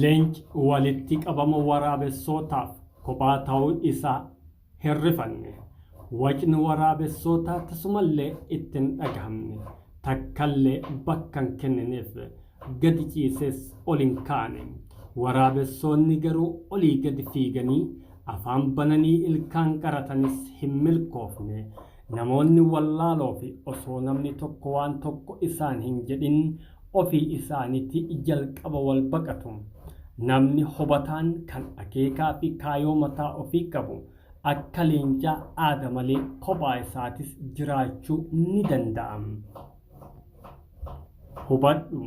Leenci walitti qabama waraabessootaaf kophaa ta'uu isaa hin rifanne. Wacni waraabessootaa tasumallee itti hin dhagahamne. Takkallee bakka hin kennineef. Gadi ciisees ol hin kaane. Waraabessoonni garuu olii gadi fiiganii afaan bananii ilkaan qaratanis hin milkoofne. Namoonni wallaaloo fi osoo namni tokko waan tokko isaan hin jedhin ofii isaaniti jalqaba wal baqatu. Namni hubataan kan akeekaa fi kaayoo mataa ofii qabu akka leencaa aada malee kophaa isaatis jiraachuu ni danda'a. Hubadhu,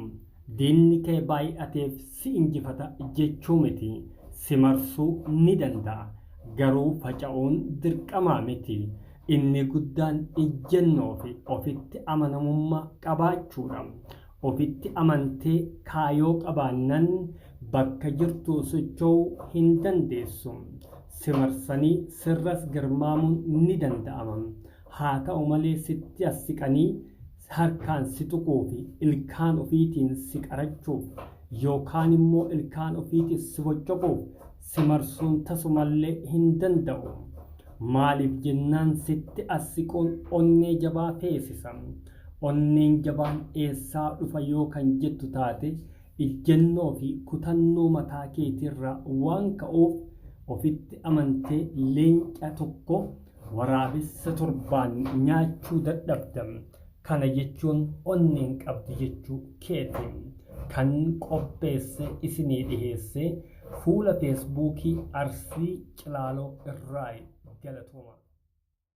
diinni kee baay'ateef si injifata jechuu miti, si marsuu ni danda'a, garuu faca'uun dirqamaa miti. Inni guddaan ejjennoo fi ofitti amanamummaa qabaachuu dha. Ofitti amantee kaayoo qabaannan bakka jirtuu socho'uu hin dandeessu. Si marsanii sirras garmaamuun ni danda'ama. Haa ta'u malee sitti as siqanii harkaan si tuquu fi ilkaan ofiitiin si qarachuuf yookaan immoo ilkaan ofiitiin si boccoquuf si marsuun tasumallee hin danda'u. Maaliif jennaan sitti as siquun onnee jabaa feesisa. Onneen jabaan eessaa dhufa yoo kan jettu taate ijjennoo fi kutannoo mataa keetiirraa waan ka'uuf ofitti amantee leenca tokko Waraabessa torbaan nyaachuu dadhabda. Kana jechuun onnee hin qabdu jechuu keeti. Kan qopheesse isinii dhiheesse fuula feesbuukii Arsii Cilaaloo irraayi. Galatoomaa.